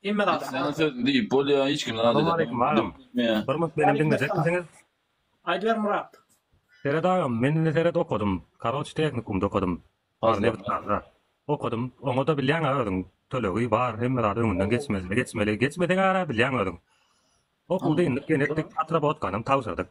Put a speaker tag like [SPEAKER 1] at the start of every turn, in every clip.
[SPEAKER 1] Hemme zat Sen sat. söz diýip bolýa,
[SPEAKER 2] hiç kim Salam aleykum agam.
[SPEAKER 3] Bir mut menem diňlejekmisiňiz? Aýdyber
[SPEAKER 1] Murat. Seret agam
[SPEAKER 3] men indi seret okadym karoç tehnikumda okadym bar nebit gazda okadym oňada bilýäňä özüň tölegi bar hemme zady öňünden geçmezli geçmeli geçmeseňara bilýäň özüň okuwda indik genetdik atrabotkanyň tabşyrdyk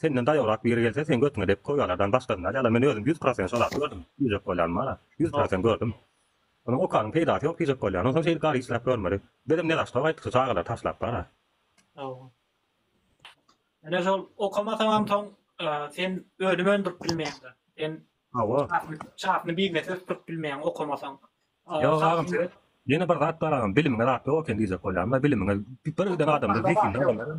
[SPEAKER 3] Senden daýawrak biri gelse seň götüňe depip koýýalardan başgasyny alýalar men özüm ýüz prosent şol aty gördüm diýjek bolýan bara ýüz prosent gördüm Onuň okanyň peýdasy ýok diýjek bolýan onsoň şeýdip gary işläp görmeli Bizem nezaşto gaýtdyk şu çagalary taşlap bara. Hawa.
[SPEAKER 1] Ine şol okamasaňam soň sen
[SPEAKER 3] önüm öndürip bilmeýäňdä. Sen Hawa. Çakyny biznesi ösdürip bilmeýäň okamasaň. Ýok agam seret. Ýene bir zat bar agam bilimiňe zat ýok eken diýjek bolýan da bilimiňe birden adamda zehinli adamlar.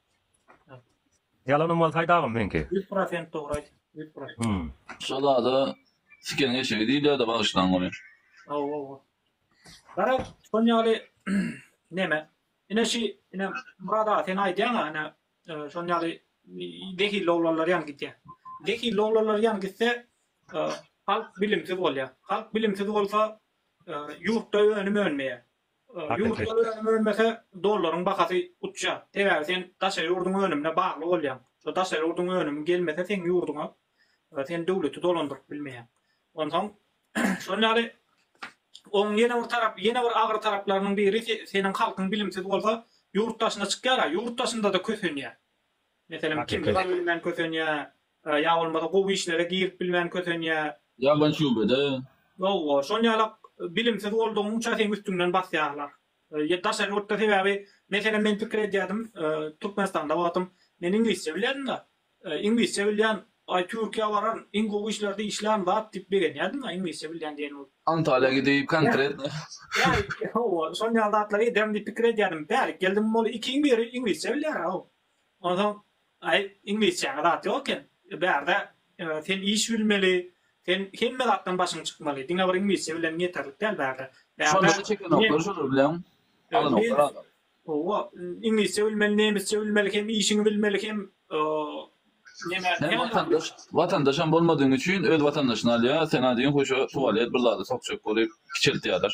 [SPEAKER 3] Ýalanym bolsaýdy agam meňki. Ýüz prosent dogry aýt. Ýüz
[SPEAKER 1] prosent. Şo zada
[SPEAKER 2] siken eşegi diýilýärdi bagyşlaň ony. Hawa hawa.
[SPEAKER 1] Gara şol ýaly neme. Ine şi ine Murat aga sen aýdýaňa ine şol ýaly zehilli oglanlar ýaly gidýär. Zehilli oglanlar ýaly gitse halk bilimsiz bolýar. Halk bilimsiz bolsa ýurtda önüm önmeýär. Ýurtlar önüm önmese, dollaryň bahasy uçýar. Sebäbi sen daşary ýurduň önümine bagly bolýaň. Şo daşary ýurduň önümi gelmese seň ýurduňa sen döwleti dolandyryp bilmeýäň. Onsoň şol ýaly oň ýene bir tarapy, ýene bir agyr taraplarynyň biri seniň halkyň bilimsiz bolsa ýurt daşyna çykýar-a, ýurt daşynda-da kösenýär. Meselem, kimdir zat bilmän kösenýär, ýa bolmasa gowy işlere girip bilmän kösenýär. Ýabany şubede.
[SPEAKER 2] Ýoga, şol
[SPEAKER 1] ýalak bilimsiz boldugyňça seň üstüňden basýarlar. Daşary ýurtda sebäbi, meselem men pikir edýärdim, Türkmenistanda wagtym men iňlisçe bilýärdim-de, iňlisçe bilýän, aý Türkiýä baran, iň gowy işlerde işlän zat diýip begenýärdim-de, iňlisçe bilýän diýen bolup. Antalýa gidip
[SPEAKER 2] konkretno. Bärik,
[SPEAKER 1] hawa, şol ýaly zatlary ederin diýip pikir edýärdim. Bärik geldim, ol ikiň biri iňlisçe bilýär-ä-ow. Onsoň, Aý, iňlisçäňe zat ýok eken. Bärde sen iş bilmeli, sen hemme zatdan başyň çykmaly. Diňe bir iňlisçe bileniň ýeterlik däl bärde. Bärde
[SPEAKER 2] ne? Hawa,
[SPEAKER 1] iňlisçe bilmeli, nemisçe bilmeli, hem işiňi bilmeli, hem neme. Sen watandaş,
[SPEAKER 2] watandaşam bolmadygyň üçin öz watandaşyny alýar, sena diýen huşa tuwalet bir zady sokjak bolup kiçeltýärler.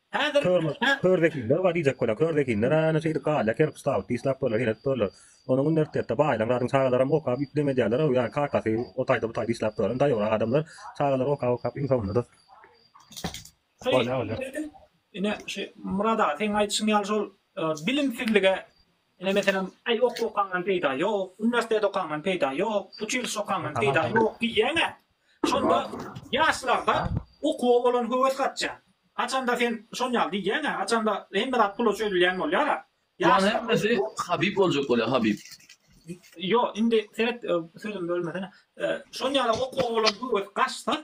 [SPEAKER 1] Häzir
[SPEAKER 3] körzehinler bar diýjek bolar. Körzehinler hany şeýdip galýar, kerpiç tabyt diýslap durlar, heýredip durlar. Onuň uniwersitetde baýlan zadyň çagalaram okap üýtgem edýärler-ow, ýa kakasy o taýda bu taýda diýslap duraryn. Daýowrak adamlar çagalary okap okap iň soňunda-da bolýar bolýar.
[SPEAKER 1] Ine şu Myrat aga seň aýdyşyň ýaly şol bilimsizlige Ine meselem, Aý okuw okaňdan peýda ýok, uniwersitet okaňdan peýda ýok, uçilişe okaňdan peýda ýok diýýäň-ä. Şonda ýaşlarda okuwa bolan höwes gaçýar. Haçanda sen şon ýaly diýýäň-ä, haçanda hemme zat pula çözülýän bolýar-a. Bulan hemmesi
[SPEAKER 2] Habib boljak bolýar, Habib. Ýok,
[SPEAKER 1] indi seret, sözümi bölmesene. Şon ýaly okuwa bolan höwes gaçsa,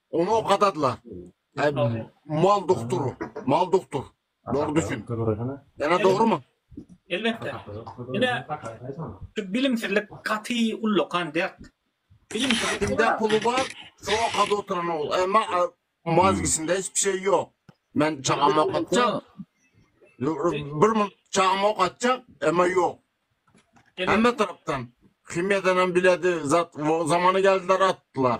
[SPEAKER 4] Ony okadadylar. Mal doktor, mal doktor. Dogry düşün. Ýa-da dogrumy? Elbetde.
[SPEAKER 1] Ine, şu bilimsizlik gaty ullakan dert. Bilimsizlikde
[SPEAKER 4] puly bar, şo okady oturan ol. Emma mozgisinde hiç bir şey ýok. Men çagamy okatjak. Bir mul çagamy okatjak, emma ýok. Hemme tarapdan. Himiýadan hem biledi, zat zamany geldiler atdylar.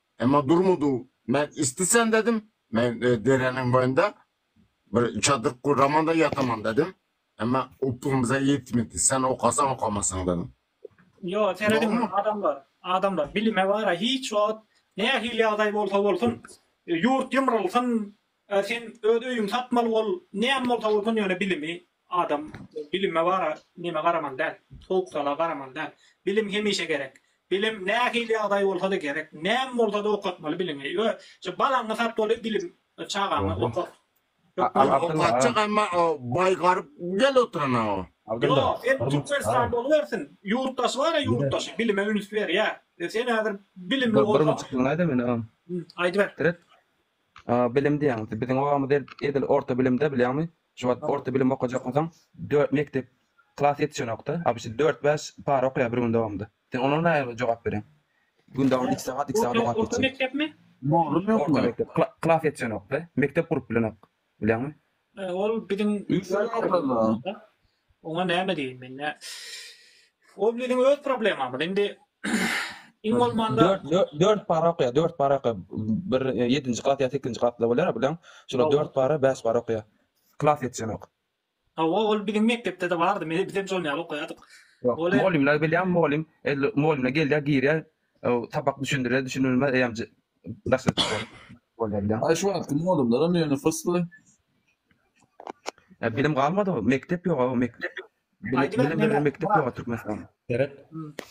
[SPEAKER 4] Emma durmady. Men istisen dedim, men dereniň boýunda bir çadyr guraman-da ýataman dedim. Emma upgym bize ýetmedi. Sen okasaň okamasaň dedim. Ýok, serediň
[SPEAKER 1] adamlar, adamlar bilime bar-a, hiç wagt nähili ýagdaý bolsa bolsun, ýurt ýumrulsyn, Ä sen öz öýüňi satmaly bol näme bolsa bolsun ýöne bilimi adam bilime bara neme garamaly däl sowuk sala garamaly däl bilim hemişe gerek bilim nähili ýagdaý bolsada gerek näme bolsada okatmaly biliňi ýö şu balaňy satmaly bilim çagaňy okat Okatjak
[SPEAKER 4] emma baý garyp gel oturana o. Ýo sen
[SPEAKER 1] türkmenistan bolubersin ýurtdaşy bara ýurtdaşy bilime üns berýä sen häzir bilimli bolsaň
[SPEAKER 5] aýdyber. Bilim diýýäňiz. Biziň obamyzda edil orta bilimde bilýäňmi, şu wagt orta bilim okajak bolsaň, dört mekdep klas ýetişenok-da, abyşy dört-bäş para okaýar bir gün dowamynda. Sen onuň nähili jogap bereň? Gün dowam iki sagat, iki sagat okap geçýär. Orta mekdepmi? Mugallym
[SPEAKER 1] ýokmy? Orta
[SPEAKER 2] mekdep. Klas
[SPEAKER 5] ýetişenok-da. Mekdep gurup bilenok. Bilýäňmi? Ol biziň.
[SPEAKER 1] Üç aý okady.
[SPEAKER 2] Oňa
[SPEAKER 1] näme diýin men nä. Ol biziň öz problemamyz. Indi iň bolmanda Dört dört dört para okaýar,
[SPEAKER 5] dört para okaýar. Bir e, ýedinji klas ýa sekizinji klasda bolýar bilen. Şolar Hawa. dört para, bäş para okaýar. Klas ýetişenok. hawa ol
[SPEAKER 1] biziň mekdepde-de bardy. Men biz hem şol ýaly okaýardyk. Ýok, Ol- mugallymlar
[SPEAKER 5] bilýän mugallym, edil mugallymlar gelýär, girýär, Öw sapak düşündire düşünilme eýem Aý şu wagtky
[SPEAKER 2] mugallymlaram ýöne fysly. Ä
[SPEAKER 5] bilim galmady mekdep ýoga mekdep ýok. Bilim bilen mekdep ýoga Türkmenistan. Seret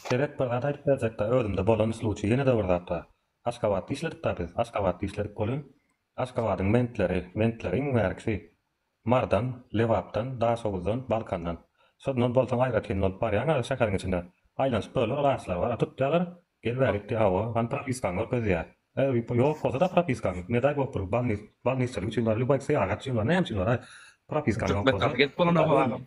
[SPEAKER 5] seret
[SPEAKER 3] bir zat aýdyp berjekda özümde bolan sluçy ýene-de bir zat bar. Aşgabatda işledik da biz Aşgabatda işledik bolun. Aşgabadyň bentleri, bentleri iň bärkisi, Marydan, Lebapdan, Daşoguzdan, Balkandan. Şundan bolsaň aýratyn bolup barýaň a şäheriň içinde. Aýlanyşyp böler ol agçlar bar a tutýalar, gel bäri gitdi hawa, hany propiskaň görkezýä. E, ýok bolsada propiskaň, ne daý bolup dur, balnis, balnisçilik üçin bar, lýuboý syýahat üçin bar, näme üçin bar a propiskaň ýok bolsa. Türkmenistan gelip
[SPEAKER 5] bolanok agam.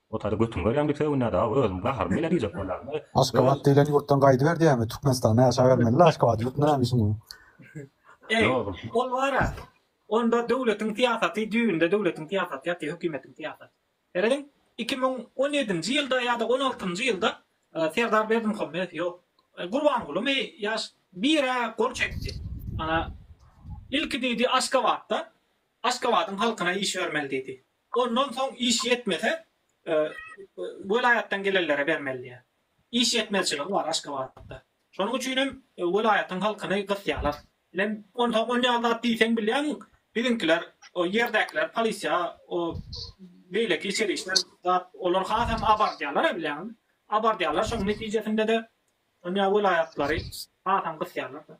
[SPEAKER 3] Otary götüň görýän bitewinden aw özüň gaharyň bile diýjek bolýan we Aşgabat diýlen
[SPEAKER 6] ýurtdan gaýdyber diýämi Türkmenistanda ýaşap bermelidä Aşgabat ýurtunda näme işiň bar. Eý
[SPEAKER 3] ol wara
[SPEAKER 1] onda döwletiň syýasaty düýbünde döwletiň syýasaty ýaty hökimetiň syýasaty. Seredin iki müň on ýedinji ýylda ýada on altynjy ýylda Serdar Berdimuhamedow ýok Gurbangulymy ýaş birä gol çekdi ana ilki diýdi Aşgabatda Aşgabadyň halkyna iş bermeli diýdi Ondan soň iş ýetmese, welaýatdan gelenlere bermeli diýýär. Iş ýetmezçiligi bar Aşgabatda. Şonuň üçin hem welaýatyň halkyny gysýarlar. Bilen onsoň on ýaly zat diýseň bilýäň, biziňkiler, o ýerdäkiler, polisiýa, o beýleki içeri işler zat, olar hasam abardýarlar-a bilýäňmi? Abardýarlar, şonuň netijesinde-de dünýä welaýatlary hasam gysýarlar-da.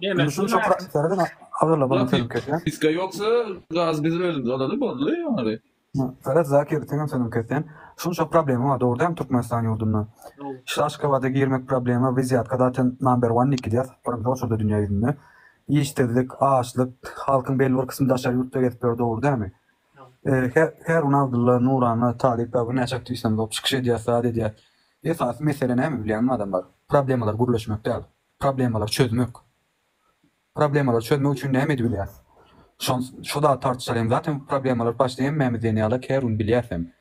[SPEAKER 6] Gümüşüň şu pratikleri de agyrla bana sözüm kesýän. Piska ýoksa
[SPEAKER 2] gaz bizim özümüz alady boldy ýaňary.
[SPEAKER 6] Salat Zakir seňem sözüm kesýän. Şunça problema bar dogry dämi Türkmenistan ýurdunda. Şu Aşgabada girmek problema wizýatka zaten number one nik gidýär birinji oçurda dünýä ýüzünde. Işsizlik, açlyk, halkyň belli bir kysmy daşary ýurtda gezip ýör dogry dämi. Herun Abdulla, Nurana, Talyp Baba näçe aktiwistan bolup çykyş edýär, zat edýär. Esasy mesele näme bilýäňmi adamlar? Problemalar gürleşmek däl. Problemalar çözmek. Problemalar çözmek üçin näme edibilýär? Şon şu zat tartışar hem zat hem problemalar başda hemmämiz diýen ýaly Kerun bilýär hem.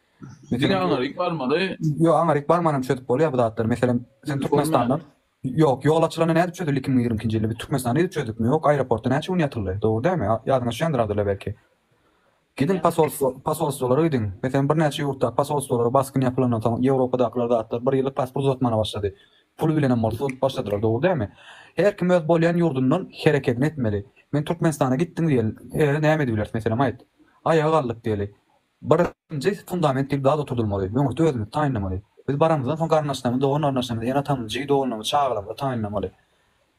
[SPEAKER 6] Diňe aňaryk
[SPEAKER 2] barmaly. Ýok aňaryk barmanam
[SPEAKER 6] çözüp bolýar bu zatlary. Meselem sen Türkmenistandan Ýok, ýol açylanda nädip çözüldi iki müň ýigrimi ikinji ýylda? Biz Türkmenistanda edip çözdükmi? Ýok, aeroportda näçe gün ýatyldy? Dogry dälmi? Ýadyňyza düşendiradyrlar belki. Gidiň posolstwo, posolstwolara gidiň. Meselem, birnäçe ýurtdaky posolstwolara basgyn ýapylandan soň, Ýewropadakylar zatlar bir ýyllyk pasport uzatmana başlady. Puly bilenem bolsa uzadyp başladylar, dogry dälmi? Her kim öz bolýan ýurdundan herekedini etmeli. Men Türkmenistana gitdiň diýeli, he, näme edibileris, meselem, aýt. Aýaga galdyk diýeli. Birinji fundament diýip zat oturdylmaly, öňürti özümizi taýynlamaly. Biz baramyzdan soň garyndaşlarymyzy, dogan-garyndaşlarymyzy, ene-atamyzy, jigi-doganlarymyzy, çagalarymyzy taýynlamaly.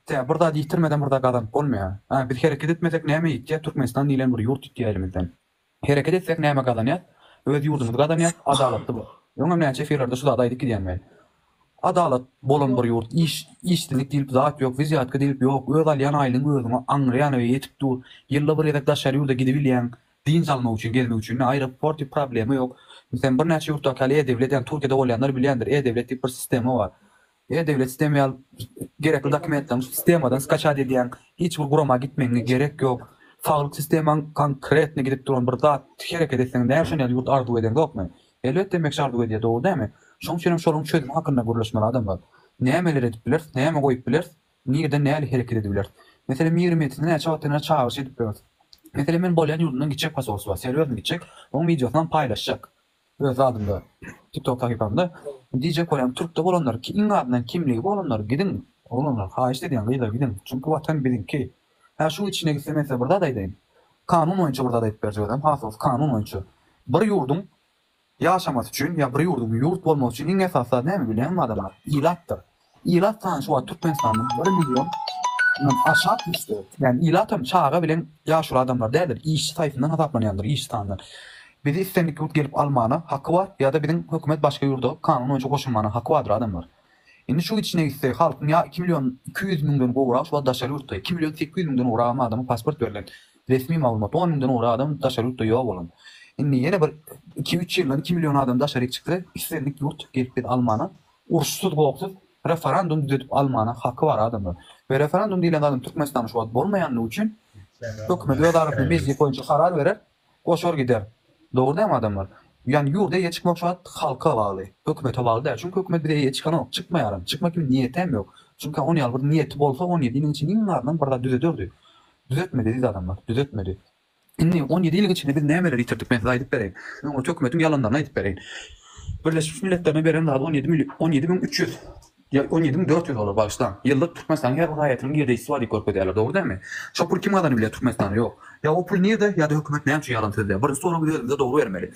[SPEAKER 6] Tä bir zat ýitirmeden bir zat gazanyp bolmaýar. Hä, biz hereket etmesek näme ýitýär, Türkmenistan diýlen bir ýurt ýitýär elimizden. Hereket etsek näme gazanýas, öz ýurdumyzy gazanýas, adalatly bir, öňem näçe efirlerde şu zady aýdyp gidýän men. Adalat bolan bir ýurt, iş, işsizlik diýlip zat ýok, wizýatka diýlip ýok, öz alýan aýlygyň özüňe aňryýana we ýetip dur, ýylda bir gezek daşary ýurda gidibilýäň, Dynç almak üçin, gezmek üçin ne aeroport diýip problema ýok. Meselem, birnäçe ýurtdaky ýaly e-döwlet, ýagny Türkiýede bolýanlar bilýändir, e-döwlet diýip bir sistema bar. E-döwlet sistema ýaly gerekli dokumentleriňi şu sistemadan skaçat edýäň, hiç bir gurama gitmegiňe gerek ýok. Saglyk sistemaň konkretno gidip duran bir zat, hereket etseň näme şony ýaly ýurt arzuw edeňzokmy? Elbetde emekçi arzuw edýär, dogry dälmi? Şonuň üçin hem şolaryň çözümi hakynda gürleşmeli adamlar. Nämeler edip bileris, näme goýup bileris? Nireden nähili hereket edibiler? Meselem, Miri men sizi näçe wagtdan bäri çagyryş edip ýörüs. Meselem, men bolýan ýurdumdan gitjek posolstwa, serweriň gitjek, oň wideosynam paýlaşjak öz zadymda, TikTok sahypamda. Diýjek bolýan, türkde bolanlar, iň azyndan kimligi bolanlar gidiň, oglanlar, haýyşt edýän, gyzlar gidiň, çünki watan biziňki. Hä, şuň içine gitse men size bir zat aýdaýyn. Kanun boýunça bir zat aýdyp berjek özem, has dogrusy kanun boýunça. Bir ýurduň Ýaşamasy üçin ýa bir ýurduň ýurt bolmasy üçin iň esasy zat näme bilýäňmi adamlar? Ilatdyr. Ilat sany şu wagt Türkmenistanda bir milliondan aşak düşdi. Ýani ilatam çaga bilen ýaşuly adamlar däldir, işçi saýsyndan hasaplanýandyr, işçi sanyndan. Bizi islendik ýurt gelip almana haky bar ýa-da biziň hökümet başga ýurda kanun boýunça goşulmana haky bardyr adamlar. Indi şu gidişine gitse halkyň ýa iki million iki ýüz müňden gowrak şu wagt daşary ýurtda, iki million sekiz ýüz müňden gowragam adama pasport berlen. Resmi maglumat, on müňden ori adam daşary ýurtda ýok bolan. Indi ýene bir iki-üç ýyldan iki million adam daşaryk çyksa, islendik ýurt gelip bizi almana, uruşsyz gopsyz referandum düzedip almana haky bar adamlar. We referandum diýlen zadyň Türkmenistanda şu wagt bolmaýandygy üçin hökümet öz arasynda mejlis boýunça karar berer, goşar gider. Dogry dälmi adamlar? Ýani ýurda eýe çykmak şu wagt halka bagly, hökümete bagly däl. Çünki hökümet bize eýe çykanok, çykmaýaram, çykma kimin niýetem ýok. Çünki ony ýaly bir niýeti bolsa on ýedi ýylyň içinde iň azyndan bir zat düzederdi. Düzetmeli eziz adamlar, düzetmeli. Indi on ýedi ýylyň içinde biz nämeleri ýitirdik, men size aýdyp bereýin. Öň ol hökümetiň ýalanlaryny aýdyp bereýin. Birleşmiş Milletlerine beren zady on ýedi mil-, on ýedi müň üç ýüz, ýa on ýedi müň dört ýüz bolar, bagyşlaň. Ýylda Türkmenistanyň her bir raýatynyň girdeýjisi bar diýip görkezýärler, dogry dälmi? Şo pul kim gazanyp bilýär Türkmenistanda? Ýok. Ýa o pul nirde, ýa-da hökümet näme üçin ýalan sözleýär? Birinji soragy biz özümize dogry bermeli.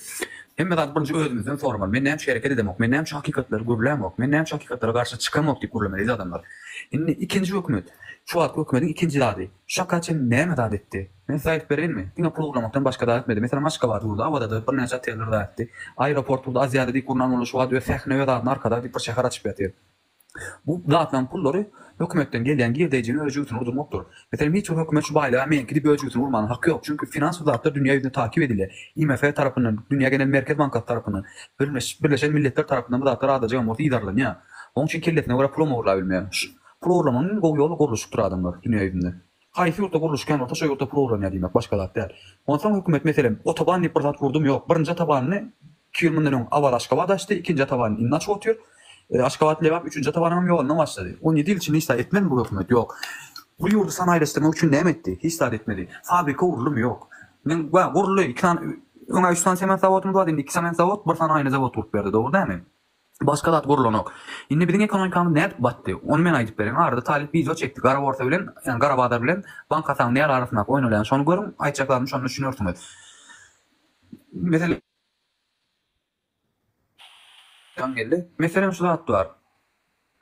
[SPEAKER 6] Hemme zady birinji özümizden soramaly. Men näme üçin hereket edemok? Men näme üçin hakykatlary gürlämok? Men näme üçin hakykatlara garşy çykamok diýip gürlemeli eziz adamlar. Indi ikinji hökümet. Şu wagt hökümediň ikinji zady. Şaka çyn näme zat etdi? Men size aýdyp bereýinmi? Diňe pul ogurlamakdan başga zat etmedi. Meselem Aşgabat urdy, Awadadyr, birnäçe oteller zat etdi. Aeroport urdy, Aziada diýip gurnan boldy, şu wagt öz sähine öz adyna Arkadag diýip bir şäher açyp ýatyr. Bu zatlaryň pullary hökümetden gelýän girdeýjiniň öz jübüsini urdurmakdyr. Meselem hiç bir hökümet şu baýlyga meňki diýip öz jübüsini urmanyň haky ýok. Çünki finans bu zatlar dünýä ýüzünde takyp edilýär. IMF tarapyndan, Dünýä genel merkez bankasy tarapyndan, Birleşen Milletler tarapyndan bu zatlar azajygam bolsa yzarlanýar. Onuň üçin kellesine görä pulam ogurlap bilmeýär. Pul ogurlamagyň iň gowy ýoly gurluşykdyr adamlar dünýäýüzünde. Haýsy ýurtda gurluşyk kän bolsa şo ýurtda pul ogurlanýar diýmek başga zat däl. Onsoň hökümet meselem otoban diýip bir zat gurdum ýok. Birinji otobanyny iki ýyl mundan öň Awaz Aşgabat açdy, ikinji otobanyny indi açyp otyr. Aşgabat Lebap üçünji otobanyňam ýolundan başlady. On ýedi ýyl içinde hiç zat etmedimi bu hökümet? Ýok. Bu ýurdy sanaýylaşdyrmak üçin näme etdi? Hiç zat etmedi. Fabrika guruldymy? Ýok. Men guruldy iki sany öňä üç sany sement zawodymyz bardy indi iki sement zawod bir sany aýna zawod gurup berdi dogry dämi? Başga zat gurlanok. Indi biziň ekonomikamyz nädip batdy? Ony men aýdyp bereýin. Arada talyp wideo çekdi. Gara borsa bilen, ýagny gara bazar bilen bank hasabynyň nähili arasyndaky oýnalýany şony görüň, aýtjaklarymdan şonda düşünersiňiz. Meselem, Ýaňy geldi. Meselem şu zat bar.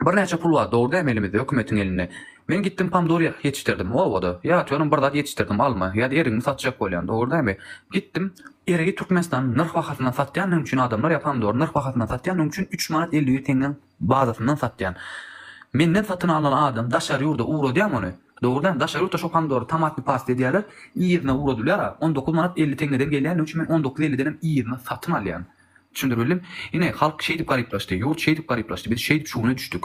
[SPEAKER 6] Birnäçe pul bar dogry dämi elimizde hökümetiň elinde. Men gitdim pomdor ýetişdirdim obada. Ýatýarym bir zat ýetişdirdim alma ýa-da erigimi satjak bolýan dogry dämi. Gitdim. Erigi Türkmenistanyň nyrh bahasyndan satýandygyň üçin adamlar ýa pomdory nyrh bahasyndan satýandygyň üçin üç manat elli bir teňňäň bazasyndan satýan. Menden satyn alan adam daşary ýurda ugradýamy ony? Dogry dämi daşary ýurtda şo pomdory tomatny pasta edýärler yzyna ugradylýara on dokuz manat elli teňňeden gelýändigi üçin men on dokuz elli denem yzyna satyn alýan. Düşündirmeli. Ine, halk şeýdip garyplaşdy, ýurt şeýdip garyplaşdy, biz şeýdip şu güne düşdük.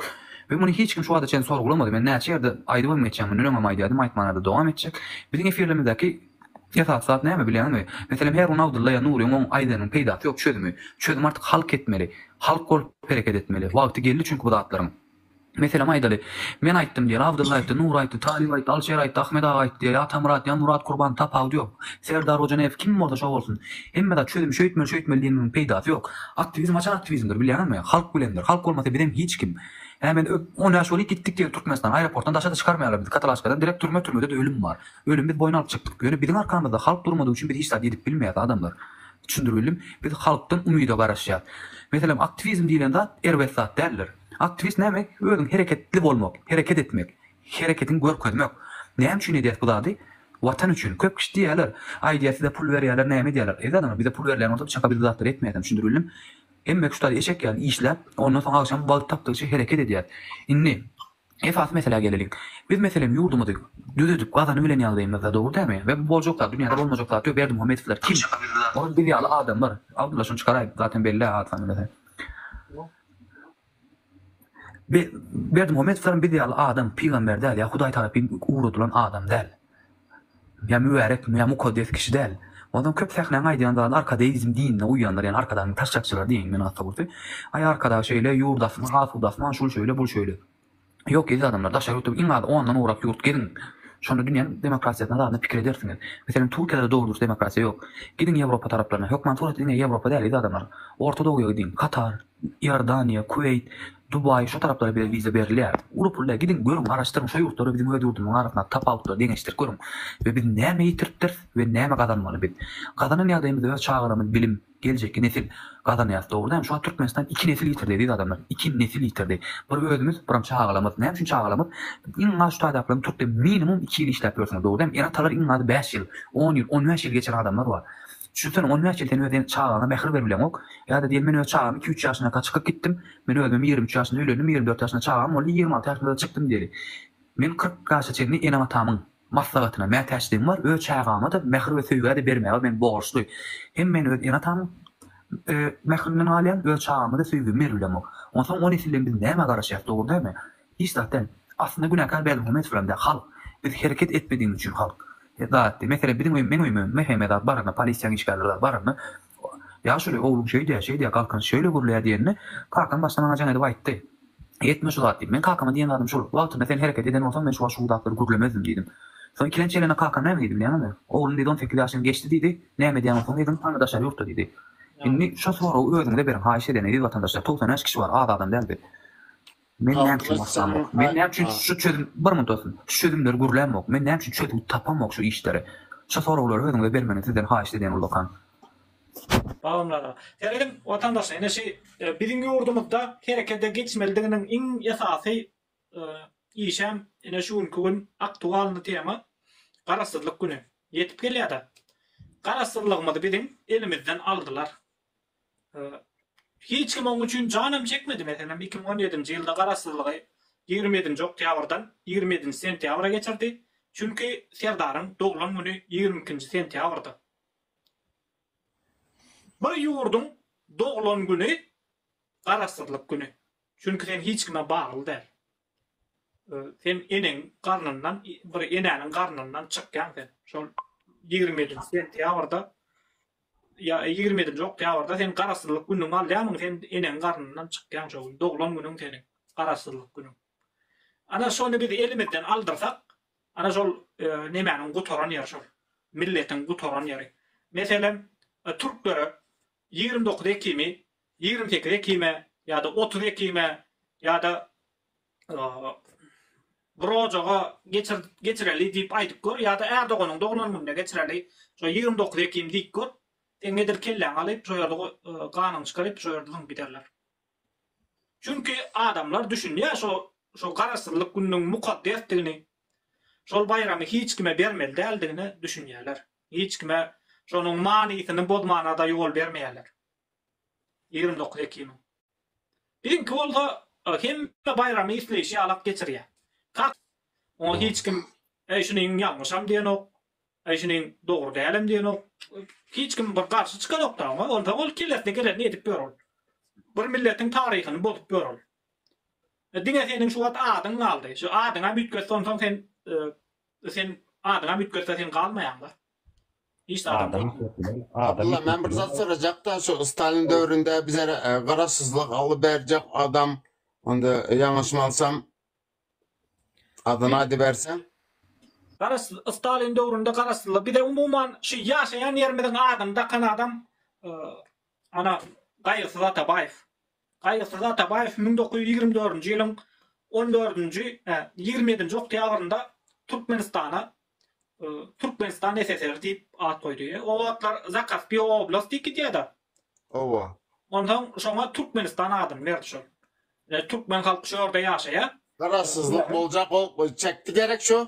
[SPEAKER 6] We muny hiç kim şu wagta çenli sorgulamady. Men näçe ýerde aýdyp hem geçýän, mundan öňem aýdýardym, aýtmana-da dowam etjek. Biziň efirlerimizdäki esasy zat näme bilýäňizmi? Meselem, her gün Abdylla ýa Nuryň oň aýdanynyň peýdasy ýok, çözümi. Çözüm artyk halk etmeli. Halk bolup hereket etmeli. Wagty geldi çünki bu zatlaryň. Meselem aýdaly, Men aýtdym diýeli, Abdylla aýtdy, Nur aýtdy, Talyp aýtdy, Alşer aýtdy, Ahmet aga aýtdy diýeli, Atamyrat ýa Murat Kurban, tapawudy ýok. Serdar Hojaneýew kim bolsa şo bolsun. Hemme zat çözüm şeýtmeli, şeýtmeli diýeniň peýdasy ýok. Aktiwizm haçan aktiwizmdir, bilýäňizmi? Halk bilendir. Halk bolmasa bizem hiç kim. Hä men öp, on bäş bolup gitdik diýeli Türkmenistana, aeroportdan daşa-da çykarmaýarlar bizi, katalaşkadan direkt türme, türmede-de ölüm bar. Ölümi biz boýun alyp çykdyk. Ýöne biziň arkamyzda halk durmadygy üçin biz hiç zat edip bilmeýäs adamlar. Düşündiribildimi? Biz halkdan umyda garaşýas. Meselem aktiwizm diýlen zat erbet zat däldir. Aktiwist näme? Özüň hereketli bolmak, hereket etmek, hereketiňi görkezmek. Näme üçin edýäs bu zady? Watan üçin. Köp kişi diýýärler, aýdýar size pul berýärler, näme edýärler? Eziz adamlar, bize pul berilýän bolsa, biz çaka biz bu zatlary etmeýärdim, şundy bildim. Emmek şu taýda eşek ýaly işläp, ondan soň agşam wagt tapdygyça hereket edýäs. Indi esasy meselä geleliň. Biz meselem ýurdumyzy düzedip gazanyp bilen ýagdaýymyzda, dogry dälmi? We bu boljak zat, dünýäde bolmajak zat ýok. Berdimuhamedowlar kim? Olar biz ýaly adamlar. Abdulla şuny çykaraýyp, zaten belli-ä, ad-sany bize. Berdimuhamedow hem biz ýaly adam, pygamber däl, ýa Hudaý tarapyn ugradylan adam däl. Ýa mübärek, ýa mukaddes kişi däl. Onsoň köp sähnaň aýdýan zady arkadeizm dinine uýýanlar, ýagny arkadagyň taşşakçylary diýýän men ata gurty. Aý arkadagy şeýle, ýurdasymy, asudasymy, şul şeýle, bul şeýle. Ýok eziz adamlar daşary ýurtda iň azy ondan gowrak ýurt geziň şonda dünýäniň demokratiýasyny barada pikir edersiňiz. Meselem Turkiýada-da dogry dürs demokratiýa ýok. Gidiň Ýewropa taraplaryna, hökman surat diňe Ýewropa däl eziz adamlar. Orta dogya gidiň, Katar, Iordaniýa, Kuweýt, Dubaý şo taraplara bile wiza berilýär. Uly pul däl gidiň görüň garaşdyryň şo ýurtlary biziň öz ýurdumyzyň arasyndaky tapawutlary deňeşdirip görüň we biz näme ýitiripdiris we näme gazanmaly biz. Gazanan ýagdaýymyz öz çagalarymyz bilim, Geljekki nesil gazanýas dogry näme şu wagt Türkmenistan iki nesil ýitirdi eziz adamlar iki nesil ýitirdi bir özümiz biram çagalamyz näme üçin çagalamyz iň az şu taýdaklaryň Türkde minimum iki ýyl işläp ýörsiňiz dogry näme er atalar iň azy bäş ýyl on ýyl on bäş ýyl geçiren adamlar bar düşünsene on bäş ýyl sen öz çagaňa mähir berip bileňok ýada diýen men öz çagamy iki üç ýaşyndaka çykyp gitdim men özümem ýigrimi üç ýaşynda öýlendim ýigrimi dört ýaşynda çagam boldy ýigrimi alty ýaşymda-da çykdym diýeli men kyrk ýaşa çenli enem atamyň Maslahatyna mätäçligim bar, öz çagama-da mähir we söýgä-de bermäge men borçly. Hem men öz ene-atamyň mähirinden galýan, öz çagama-da söýgimi berip bilemok. Onsoň o nesilden biz nämä garaşýas, dogry dälmi? Hiç zat däl. Aslynda günäkär Berdimuhamedowlaram däl, halk. Biz hereket etmedigimiz üçin halk. Zat, meselem, biziň öý, meň öýüme, Mehemedar baranda, polisiýaň işgärleri zat baranda, Ýaşuly, Ogluň şeýdýär, şeýdýär, Galkyn şeýle gürleýär diýenine, kakam başda maňa jaň edip aýtdy. Etme şu zat diýip. Men kakama diýen zadym şul, wagtynda sen hereket eden bolsaň, men şu wagt şu zatlary gürlemezdim diýdim. Soň ikilenç gelende kakam näme diýdi bilýäňizmi? Oglum diýdi, on sekiz ýaşyň geçdi diýdi, näme edýän bolsaň edin, hany daşary ýurtda diýdi. Indi şo soragy özüňize beriň, haýyş edýän, eziz watandaşlar, togsan bäş kişi bar, az adam däl biz. Men näme üçin başlamok? Men näme üçin şu
[SPEAKER 4] çözüm,
[SPEAKER 6] bir
[SPEAKER 4] munt
[SPEAKER 6] dostum, şu çözümleri gürlämok? Men näme üçin çözgüt tapamok şu işlere? Şu soraglary özüňize bermegini sizden haýyşt edýän ullakan. Gawunlara.
[SPEAKER 1] Seredin watandaş ene şi biziň ýurdumyzda herekede geçmelidiginiň iň esasy işem ene şu günki gün aktualny tema garasyzlyk güni ýetip gelýäda. Garasyzlygymyzy biziň elimizden aldylar. Hiç kim oň üçin janam çekmedi, meselem, iki müň on ýedinji ýylda garaşsyzlygy ýigrimi ýedinji oktýabrdan ýigrimi ýedinji sentýabra geçirdi, çünki Serdaryň doglan güni ýigrimi ikinji sentýabrdy. Bir ýurduň doglan güni garaşsyzlyk güni, çünki sen hiç kime bagly däl. Sen eneň garnyndan bir enäniň garnyndan çykýaň sen. Şol ýigrimi ýedinji sentýabrda ýa ýigrimi ýedinji oktýabrda sen garaşsyzlyk günüňi alýarmyň sen eneň garnyndan çykýaň şo gün doglan günüň seniň garaşsyzlyk günüň. Ana şony biz elimizden aldyrsak ana şol nemäniň gutaran ýeri şol milletiň gutaran ýeri. Meselem türklere Ýigrimi dokuz ekimi, ýigrimi sekiz ekime ýa-da otuz ekime ýa-da bir ojaga geçir, geçireli diýip aýdyp gör ýa-da är doganyň doglan gününe geçireli, şo ýigrimi dokuz ekim diýip gör, seň edil kelläňi alyp, şo ýerde ganyňy çykaryp, şo ýerde zyňyp giderler. Çünki adamlar düşünýär şo şo Garaşsyzlyk gününiň mukaddesdigini, şol baýramy hiç kime bermeli däldigine düşünýärler. Hiç kime şonuň manysyny bozmana-da ýol bermeýärler. Ýigrimi dokuz ekiniň Biziňki bolsa hemme baýramy isleýşi ýalak geçirýär. Kak. Oňa hiç kim Äý şuniň ýalňyşam diýenok, äý şuniň dogry dälem diýenok. Hiç kim bir garşy çykanok-da oňa. Onsoň ol kellesine gelenini edip ýör ol. Bir milletiň taryhyny bozup ýör ol. Diňe seniň şu wagt adyň galdy. Şu adyňam üýtget, onsoň sen Sen adynam üýtgetse sen galmaýaňda. Hiç zadam beýtmän. Abdylla men
[SPEAKER 4] bir zat sorajakda şu Stalin döwründe bizer garaşsyzlyk alyp berjek adam onda ýalňyşmalsam adyny aýdyberseň. Garaşsyz
[SPEAKER 1] Stalin döwründe garaşsyzlyk bize umuman şu ýaşaýan ýerimiziň adyny dakan adam ana Gaýgysyz Atabaýew. Gaýgysyz Atabaýew müň dokuz ýüz ýigrimi dördünji ýylyň on dördünji, hä, ýigrimi ýedinji oktýabrynda Türkmenistana Türkmenistan SSR diýip at goýdy. O wagtlar Zakaspiý oblast diýip gidýär-de. Hawa.
[SPEAKER 4] Onsoň şoňa
[SPEAKER 1] Türkmenistan adyny berdi şol. Türkmen halky şu ýerde ýaşaýar. Garaşsyzlyk boljak,
[SPEAKER 4] ol çekdi gerek şu.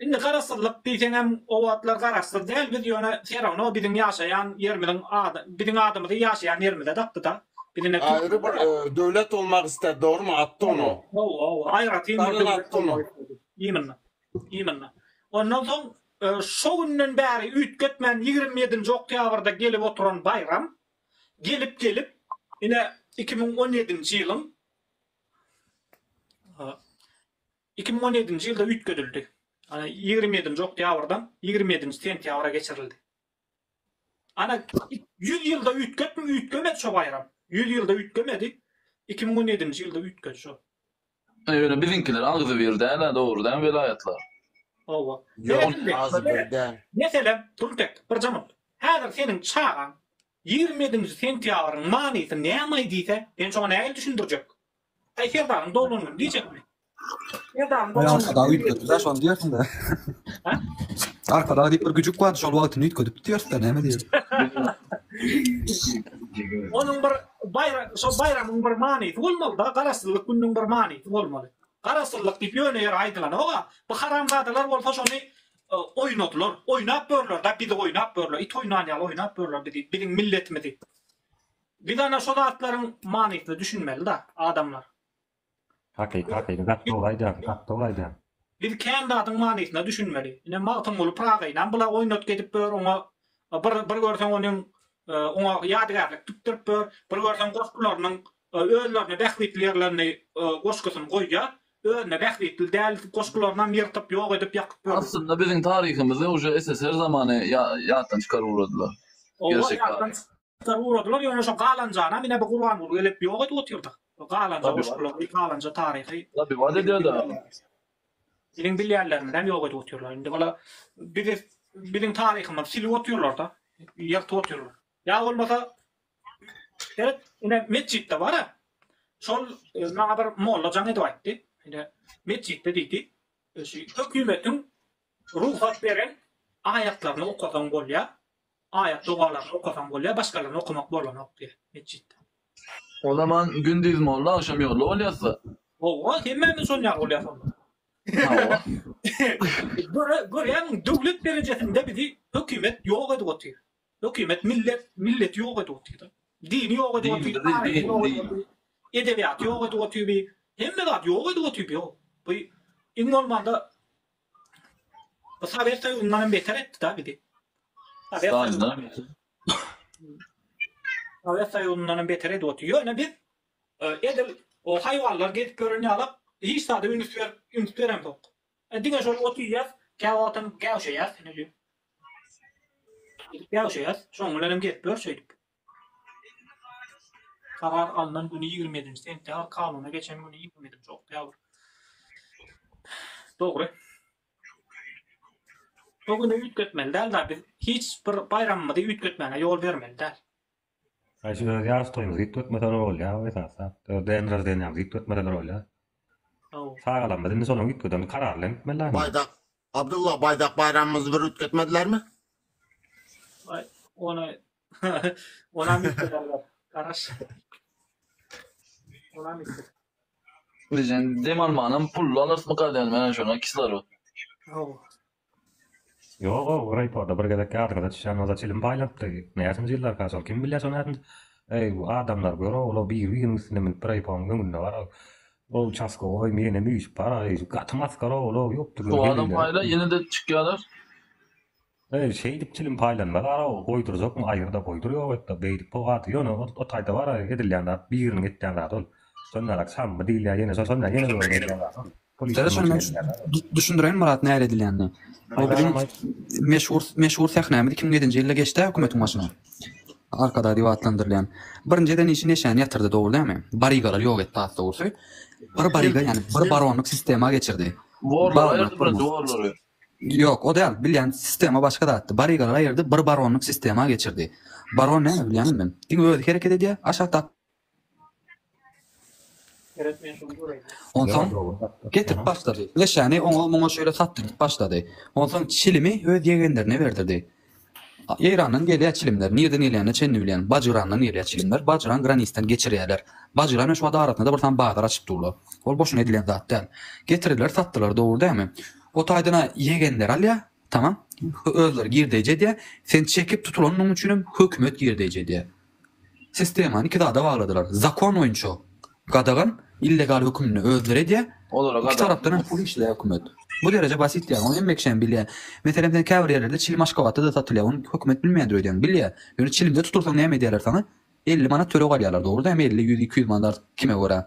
[SPEAKER 4] Indi garaşsyzlyk
[SPEAKER 1] diýseňem o wagtlar garaşsyz däl biz ýöne serowno biziň ýaşaýan ýerimiziň ady biziň adymyzy ýaşaýan ýerimize dakdyda biz indi Aýry bir
[SPEAKER 4] döwlet bolmak ister dogrymy Attono. Hawa hawa aýratyn bir
[SPEAKER 1] döwlet bolmak
[SPEAKER 4] isledi. Imnna.
[SPEAKER 1] Imnna. Ondan soň şo günden bäri üýtgetmän ýigrimi ýedinji oktýabrda gelip oturan baýram gelip gelip ine iki müň on ýedinji ýylyň Iki müň on ýedinji ýylda üýtgedildi. Ýigrimi ýedinji oktýabrdan ýigrimi ýedinji sentýabra geçirildi. Ana, ýüz ýylda üýtgepmi, üýtgemedi şo baýram. Ýüz ýylda üýtgemedi. Iki müň on ýedinji ýylda üýtgedi şo. Ýöne
[SPEAKER 2] biziňkiler agzybir däl-ä, dogry dämi welaýatlar? Hawa.
[SPEAKER 1] Ýok, agzybir
[SPEAKER 4] däl. Meselem, Turtek,
[SPEAKER 1] birje mundy. Häzir seniň çagaň Ýigrimi ýedinji sentýabryň manysy nämaý diýse, men şoňa nähili düşündirjek? Aý, serdaryň doglan güni diýjekmi? Serdaryň Aý, doglan Arkadag güni. üýtgedip-ä şony
[SPEAKER 6] diýersiň-dä.
[SPEAKER 1] Hä? Arkadag
[SPEAKER 6] diýip bir güjük bardy, şol wagtyny üýtgedipdi diýeris-dä, näme diýeris? Onuň bir baýra-, şol
[SPEAKER 1] baýramyň bir manysy bolmaly-da, garaşsyzlyk gününiň bir manysy bolmaly. Garaşsyzlyk diýip ýöne ýere aýdylanok-a. Bu haramzadalar bolsa şony Oýnadylar, oýnap börler-da, bizi oýnap börler, it oýnan ýaly oýnap börler bizi, biziň milletimizi. Biz ana şo zatlaryň manysyna düşünmeli-da, adamlar. Hakyky,
[SPEAKER 3] hakyky zat, dogry aýdýaň, gaty dogry aýdýaň. Biz kän
[SPEAKER 1] zadyň manysyna düşünmeli. Ine, Magtymguly Pyragyny hem bula oýnatgy edip bör, oňa bir, bir görseň onuň Oňa ýadygärlik tikdiripdir. Bir görseň goşgularynyň özlerine bähbitli ýerlerini goşgusyny goýýar. Özüne bähbitli däl goşgularynam ýyrtyp, ýok edip, ýakyp ýör. Aslynda biziň taryhymyzy
[SPEAKER 2] uje SSR zamany ýatdan çykaryp ugradylar. Oba
[SPEAKER 1] ýatdan çykaryp ugradylar, ýöne şo galanjanam ine bu Gurbanguly gelip ýok edip otyrda. Galanja goşgulary, galanja taryhy. Tabi wada edýärdi.
[SPEAKER 2] Biziň
[SPEAKER 1] bilýänlerimizi ýok edip otyrlar. Indi ola bizi biziň taryhymyzy silip otyrlarda. Ýyrtyp otyrlar. Ýa bolmasa Seret, ine metjitde bar-a. Şol maňa bir molla jaň edip aýtdy. Ine metjitde diýdi. Şu hökümetiň rugsat beren aýatlaryny okasaň bolýar. Aýat dogalaryny okasaň bolýar, başgalaryny okamak bolanok diýýär metjitde. O
[SPEAKER 2] zaman gündiz molla agşam ýolla bolýasda. Hawa, hemmämiz
[SPEAKER 1] şol ýaly bolýas onda. Hawa. Görýäňmi, döwlet derejesinde bizi hökümet ýok edip otyr. Hökümet millet, milleti ýok edip otyrda. Dini ýok edip otyr, taryhy ýok edip otyr, edebiýaty ýok edip otyr bi. Hemme zady ýok edip otyr bi o. Bu iň bolmanda Bu Saber Soýuzyndanam beter etdi-da bizi. Saber Soýuzyndanam beter edip otyr. Ýöne biz e, edil o haýwanlar gezip ýören ýalak hiç zada üns berip, üns beremzok. E, diňe şol ot iýýär, käwagt wagtam gäwşeýär, ine şu. Gäwşeýär, şoň bilen hem gezip ýör şeýdip. Karar alnan güni ýigrimi ýedinji sentýabr, kanuna geçen güni ýigrimi ýedinji oktýabr. Dogry. Bu güni üýtgetmeli däl da biz hiç bir baýramymyzy üýtgetmäge ýol bermeli däl. Aý
[SPEAKER 3] şu öz ýaryş toýumyzy üýtgetmeseler bolýa esasda. Öz däne rozdeniýamyzy üýtgetmeseler bolýa. Hawa. Çagalarymyz indi şonuň üýtgeden karary bilen gitmeli däl. Baýdak
[SPEAKER 4] Abdylla baýdak baýramymyzy bir üýtgetmedilermi? Aý ony
[SPEAKER 1] Ona mitler algar. Garaş. Ona mitler. Bilen
[SPEAKER 2] dem almanam pul alarsymy gadyany menen şona kislorod.
[SPEAKER 3] Haw. Ýog-o, rayporda bir gezek ýadyňyza düşýän bolsa çilim paýlanypdy. Näçinji ýyllarka şol, kim bilýär şo nädinji. Eý, bu adamlar gör-ow, ol-ow biri-biriniň üstüne münüp bir aýpoň öňünde bar. Ol uçaskowoý menem üýşüp bar. Eý, gaty masgar-ow, ol-ow ýokdy gör, Şu adam geleýler. paýla ýene-de
[SPEAKER 2] çykýarlar.
[SPEAKER 3] Eý, şeýdip çilim paýlanmaz-a-ow, goýdurjakmy, aýyr-da goýdur, ýok et-de, beýdip goý-a-da, ýöne ol o taýda bar-a, edilýän zat, biriniň etýän zady ol. Şonda-da çammy diýilýä, ýene şol, şonda ýene görüň edýän zady ol. Pul işi şonuň
[SPEAKER 6] üçin edilýä-dä ol. Düşündireýin, Myrat, nähili edilýänini. O biziň meşhur, meşhur sähnämiz iki müň ýedinji ýylda geçdi-ä hökümetiň başyna. Arkadag diýip atlandyrylýan. Birinji eden işi neşäni ýatyrdy, dogry dälmi? Barygalary ýok etdi, has dogrusy, bir baryga, ýagny bir baronlyk sistema geçirdi. Worlary aýyrdy,
[SPEAKER 2] birinji worlary. Ýok, o däl.
[SPEAKER 6] Bilýän sistema başga zatdy. Barygalar aýyrdy, bir baronlyk sistema geçirdi. Baron näme bilýän ondan? Diňe özi hereket edýär, aşak dap. Onsoň getirip başlady. Leşäni oňa-muňa şeýle satdyryp başlady. Onsoň çilimi öz ýegenlerine berdirdi. Eýrandan gelýär çilimler, nirden gelýänine çenli bilýän, Bajyrandan gelýär çilimler, Bajyran granisdan geçirýärler. Bajyrana şu wagt arasynda-da bir sany bazar açyp durlar. Ol boşuna edilen zat däl. Getirdiler, satdylar, dogry dälmi? O taýdan-a ýegenleri alýar, tamam, özleri girdeýji edýär, sen çekip tutulanyň üçinem hökümet girdeýji edýär. Sistemany iki zada bagladylar. Zakon boýunça gadagan illegal hökümini özleri edýär, iki tarapdan hem pul işleýär hökümet. Bu dereje basit däl, ony hemme kişi hem bilýär. Meselem, sen käbir ýerlerde çilim Aşgabatda-da satylýar, ony hökümet bilmeýändir öýdýäň, bilýär. Ýöne çilimde tutursaň näme edýärler saňa? Elli manat töleg alýarlar, dogruda hem elli, ýüz, iki ýüz manat art, kime görä.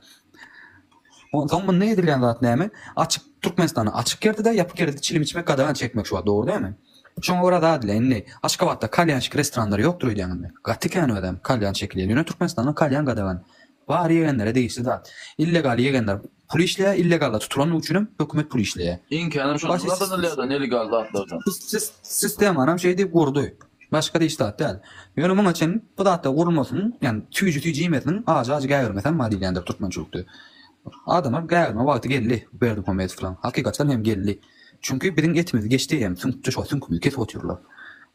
[SPEAKER 6] Onsoň munda edilýän zat näme? Açyk Türkmenistanda açyk ýerde-de, ýapyk ýerde-de çilim içmek gadagan çekmek şu wagt, dogry dälmi? Şoňa görä zat ile indi Aşgabatda kalýançyk restoranlary ýokdur öýdýäň indi. Gaty kän özem kalýan çekilýär. Ýöne Türkmenistanda kalýan gadagan. Bary ýegenlere degişli zat. Illegal ýegenler pul işleýär, illegalda tutulandygy üçinem hökümet pul işleýär. Iň känem şondan
[SPEAKER 2] gazanylýar-da nelegal zatlardan. Sistemanam
[SPEAKER 6] şeý diýip gurdy. Başga-da hiç zat däl. Ýöne muňa çenli bu zatlar gurulmasyn, ýagny tüýji tüýji iýmesin, ajy ajy gägirmesem bar diýilýändir türkmençilikde. Adama gägirme wagty geldi Berdimuhamedow bilen. Hakykaçan hem geldi. Çünki biziň etimizi geçdi hem süňkçe şo süňkümizi kesip otyrlar.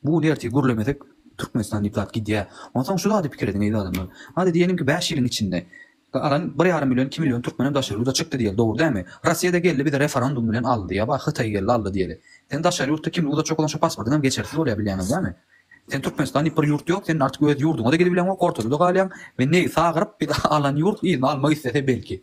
[SPEAKER 6] Bu gün ertir gürlemesek Türkmenistan diýip zat gidýä. Onsoň şu zady pikir ediň eziz adamlar. Hadi diýeliňki bäş ýylyň içinde galan bir ýarym million iki million türkmen hem daşary ýurda çykdy diýeli dogry dämi? Rossiýada geldi bizi referendum bilen aldy ýa bar Hytaý geldi aldy diýeli. Sen daşary ýurtda kimlik uzatjak bolan şo pasportyň hem geçersiz bolýa bilýäňiz dämi? Sen Türkmenistan diýip bir ýurt ýok seniň artyk öz ýurduňada gidip bileňok ortada da galýaň we negi sagyryp bizi alan ýurt yzyna almak islese belki.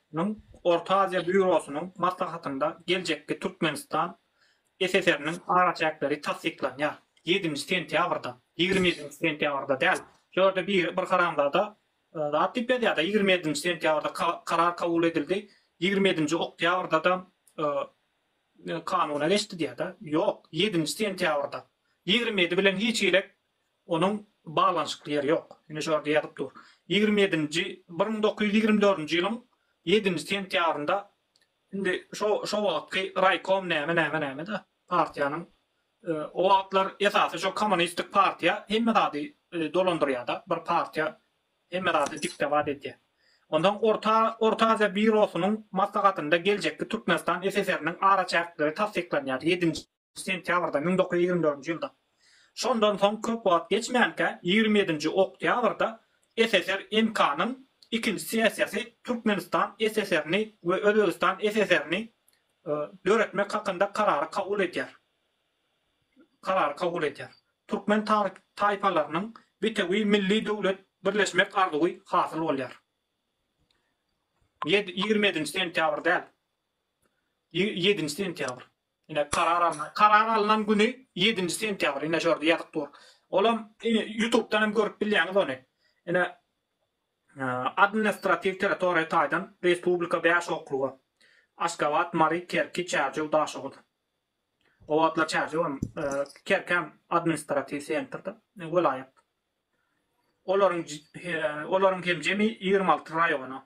[SPEAKER 1] Nyň Orta Aziýa býurosynyň maslahatynda geljekki Türkmenistan SSR-niň araçäkleri tassyklanýar. Ýedinji sentýabrda, ýigrimi ýedinji sentýabrda däl. Şu ýerde biri bir haramzada zat diýip ýazýar-da, ýigrimi ýedinji sentýabrda karar kabul edildi, ýigrimi ýedinji oktýabrda-da kanuna geçdi diýýär-de. Ýok, ýedinji sentýabrda. Ýigrimi ýedi bilen hiç girek Onuň baglanyşykly ýeri ýok. Ine şu ýerde ýazyp dur. Ýigrimi ýedinji, bir müň dokuz ýüz ýigrimi dördünji ýylyň ýedinji sentýabrynda indi şo şo wagtky raýkom näme näme näme-de partiýanyň o wagtlar esasy şo kommunistik partiýa hemme zady dolandyrýa-da bir partiýa hemme zady dikdebat edýär. Onsoň orta Orta Aziýa býurosynyň maslahatynda geljekki Türkmenistan SSR-niň araçäkleri tassyklanýar ýedinji Sentýabrda, müň dokuz ýüz ýigrimi dördünji ýylda. Şondan soň köp wagt geçmänkä, ýigrimi ýedinji oktýabrda SSR MK-nyň ikinji sessiýasy Türkmenistan SSR-ni we Özbegistan SSR-ni döretmek hakynda karary kabul edýär. Karary kabul edýär. Türkmen taýpalarynyň bitewi milli döwlet birleşmek arzuwy hasyl bolýar. Ýedi, ýigrimi ýedinji sentýabr däl. Ýe, ýedinji sentýabr. Ine karar alnan karar alnan güni ýedinji sentýabr ine şorda ýazyp dur olam ine ýutubdan hem görüp bilýäňiz ony ine admnistratiw territoriýa taýdan respublika bäş okruga Aşgabat Mary Kerki Çärjew Daşoguz o wagtlar Çärjew hem Kerkäm admnistratiw sentrda welaýat olaryň olaryň hem jemi ýigrimi alty raýona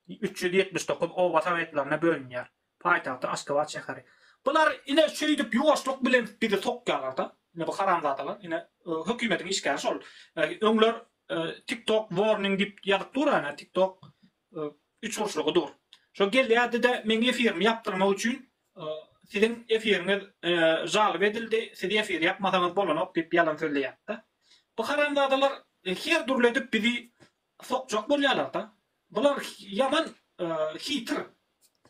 [SPEAKER 1] üç ýüz ýetmiş dokuz oba sowetlerine bölünýär. Paýtagty Aşgabat şäheri. Bular ine şeýdip ýuwaşlyk bilen bizi sokýarlarda. Ine bu haramzadalar ine hökümetiň işgäri şol. Öňler tik tok warning diýip ýazyp dur ana tik tok üç burçlugy dur. Şo gelýärdide meň efirimi ýapdyrmak üçin siziň efiriňiz žalyp edildi siz efir ýapmasaňyz bolanok diýip ýalan sözleýärdi. Bu haramzadalar her dürli edip bizi sokjak bolýalarda bular ýaman hitir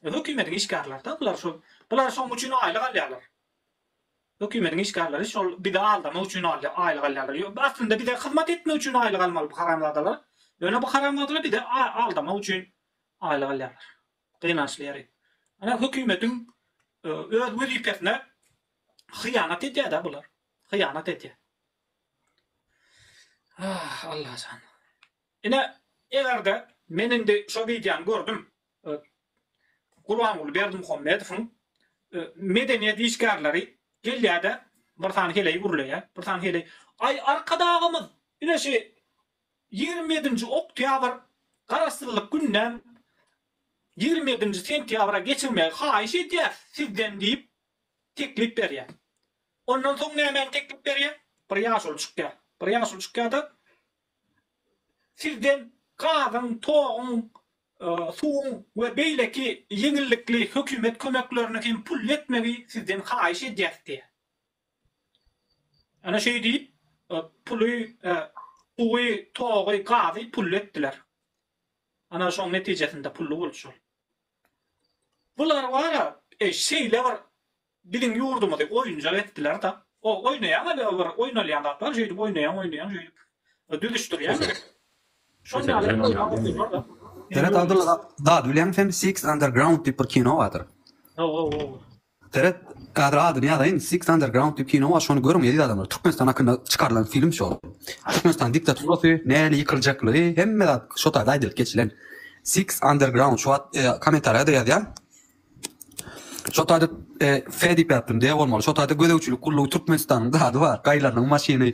[SPEAKER 1] hökümediň işgärlerida bular şol bular şoň üçin aýlyk alýalar hökümediň işgärleri şol bizi aldamak üçin alýar aýlyk alýalar ýok aslynda bize hyzmat etmek üçin aýlyk almaly bu haramzadalar ýöne bu haramzadalar bizi aldamak üçin aýlyk alýalar gynançly ýeri ana hökümediň öz wezipesine hyýanat edýär-de bular hyýanat edýär Ah Allajan. Ine egerde men indi şo wideony gördüm. Gurbanguly Berdimuhamedowyň medeniýet işgärleri gelýärde bir sany heleý gürleýä. Bir sany heleý Aý arkadagymyz ine şi ýigrimi ýedinji oktýabr garaşsyzlyk gününem ýigrimi ýedinji sentýabra geçirmegi haýyş edýäs sizden diýip teklip berýär. Ondan soň nämäni teklip berýär? Bir ýaşuly çykýar. Bir ýaşuly çykýar-da, Sizden gazyň, toguň, suwuň we beýleki ýeňillikli hökümet kömeklerini hem pully etmegi sizden haýyş edýäs diýýär. Ana şeý diýip, puly, suwy, togy, gazy pully etdiler. Ana şoň netijesinde pully boldy şol. Bular wara şeýle bir biziň ýurdumyzy oýunjak etdiler-de. O oýnaýan ýaly bir oýnalýan zatlar şeýdip oýnaýan oýnaýan şeýdip düzüşdirýän. Şol ýaly edip oýnap otyrlar-da. Seret Abdylla
[SPEAKER 6] zat bileňmi sen Six Underground diýip bir kino bardyr. Hawa hawa. Seret kadr adyny ýazaýyn Six underground diýip kino bar şony görüň eziz adamlar Türkmenistan hakynda çykarylan film şo Türkmenistan diktaturasy näle ýykyljaklygy hemme zat şo taýda aýdylyp geçilen Six underground şu at komentarýada ýazýan şo taýda Fe diýip ýazdym D bolmaly şo taýda gözegçilik gullugy Türkmenistanyň zady bar gaýylarynyň maşyny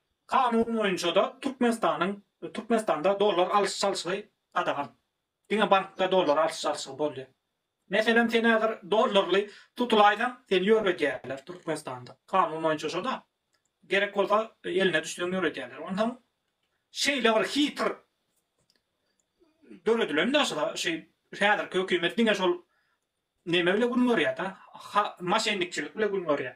[SPEAKER 1] Kanun boýunça-da Türkmenistanyň Türkmenistanda dollar alyş-çalşygy gadagan. Diňe bankda dollar alyş-çalşygy bolýar. Meselem sen häzir dollarly tutulaýsaň seni ýöredýärler Türkmenistanda. Kanun boýunça şo-da. Gerek bolsa eline düşseň ýöredýärler. Onsoň şeýle bir hytr döredilen-de şo şy häzirki hökümet diňe şol neme bile gün görýär-de, ha maşennikçilik bile gün görýär.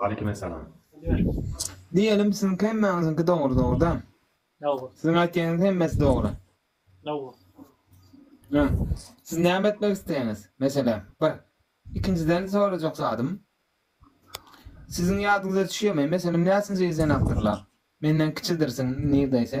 [SPEAKER 1] Waleýkim
[SPEAKER 3] essalam.
[SPEAKER 7] Diýelim siziň hemmäňiziňki dogry dogryda? Dogry. Siziň
[SPEAKER 1] aýtýanyňyz hemmesi
[SPEAKER 7] dogry. Dogry. Hä. Siz näme etmek isleýäňiz? Meselem, bir. Ikinjiden sorajak zadym. Siziň ýadyňyza düşýärmi, meselem näçinji ýyl sen awtorlar? Menden kiçidirsiň nirdeýse.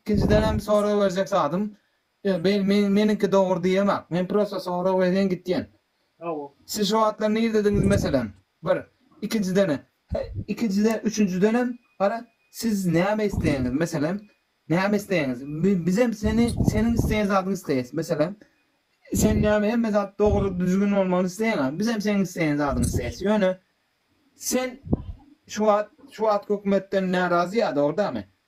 [SPEAKER 7] Ikinjidenem sorag berjek zadym ýok beýl men meniňki dogry diýemok men prosta sorag berýän gitýän siz
[SPEAKER 1] şo wagtlar
[SPEAKER 7] nirdediňiz meselem bir ikinjidene ikinjide üçünjidenem gara siz näme isleýäňiz meselem näme isleýäňiz bizem seni seniň isleýän zadyňy isleýäs meselem sen näme hemme zat dogry düzgün bolmagyny isleýäňä bizem seniň isleýän zadyňy isleýäs ýöne sen şu wagt şu wagt hökümetden närazy ýa dogry dämi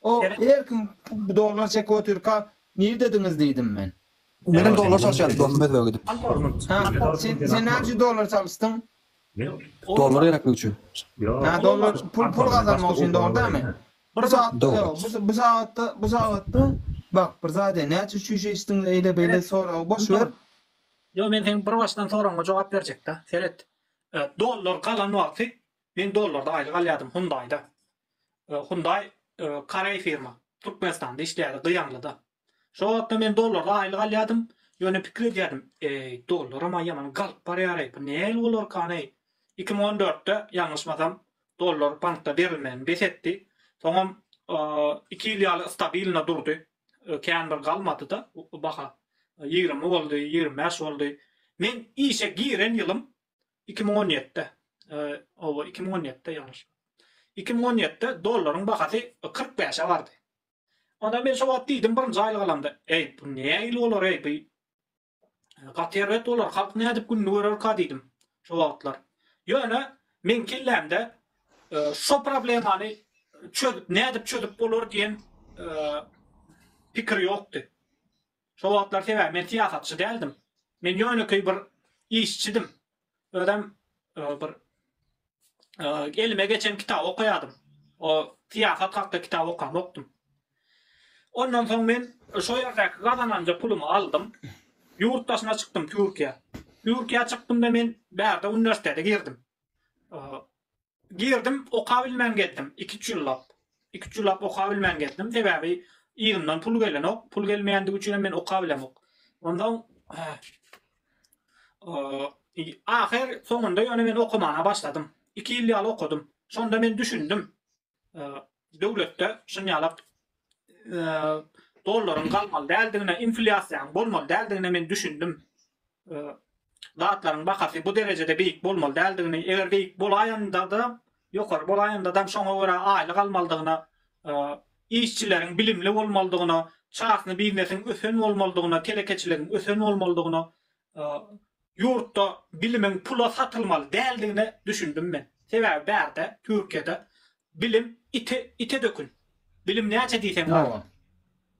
[SPEAKER 7] O, her kim dollar çekip otyrka, nirdediňiz? diýdim men. Menem dollar
[SPEAKER 6] çalyşýarys dostum özbege gidip. Ha,
[SPEAKER 7] sen näme üçin dollar çalyşdyň?
[SPEAKER 6] Dollar gereklik üçin. Ha, dollar
[SPEAKER 7] pul pul gazanmak üçin dogry dämi? Bir zat, bu sagatda, bu sagatda, bak, bir zat aýdaýyn, näçe çüýşe içdiň, eýle-beýle soragy boş ber. Ýok, men seň
[SPEAKER 1] bir başdan soragyňa jogap berjek-dä, seret. Dollar galan wagty Men dollarda aýlyk alýadym Hundaýda. Hundaý koreý firma. Türkmenistanda işleýärdi Gyýanlyda. Şo wagtda men dollarda aýlyk alýadym. Ýöne pikir edýärdim, eý, dollaram-a ýaman galyp barýar-eý, bu nähili bolarkan-eý? Iki müň on dörtde, ýalňyşmasam, dollar bankda berilmegini bes etdi. Soňam iki ýyl ýaly stabilno durdy. Kän bir galmady-da baha. Ýigrimi boldy, ýigrimi bäş boldy. Men işe giren ýylym iki müň on ýedide, oba, iki müň on ýedide, ýalňyşma, iki müň on ýedide dollaryň bahasy kyrk bäşe bardy. Onda men şo wagt diýdim, birinji aýlyk alamda, Eý, bu nähili bolar-eý, bu gaty erbet bolar, halk nädip gününi görerka diýdim şo wagtlar. Ýöne meň kellämde şo problemany çözüp, nädip çözüp bolar diýen pikir ýokdy. Şo wagtlar sebäbi men syýasatçy däldim. Men ýönekeý bir işçidim. Özem bir elime geçen kitaby okaýardym. O syýasat hakda kitap okamokdym. Ondan soň men şo ýerdäki gazananja pulumy aldym. Ýurt daşyna çykdym Türkiýä. Türkiýä çykdymda men bärde uniwersitete girdim. Girdim, okabilmän gezdim, iki-üç ýyllap. Iki-üç ýyllap okabilmän gezdim, sebäbi yzymdan pul gelenok. Pul gelmeýändigi üçinem men okabilemok. Onsoň, ahyr soňunda ýöne men okamana başladym. Iki ýyl ýaly okadym. Şonda men düşündim. döwletde şun ýalak dollaryň galmaly däldigine, inflýasiýanyň bolmaly däldigine men düşündim. Zatlaryň bahasy bu derejede beýik bolmaly däldigini, eger beýik bolaýanda-da, ýokary bolaýanda-da şoňa görä aýlyk almalydygyna, işçileriň bilimli bolmalydygyna, çasny biznesiň ösen bolmalydygyna, telekeçiligiň ösen bolmalydygyna Ýurtda bilimiň pula satylmaly däldigine düşündim men. Sebäbi bärde, Türkiýede bilim ite, ite dökün. Bilim näçe diýseň bar. Dogry.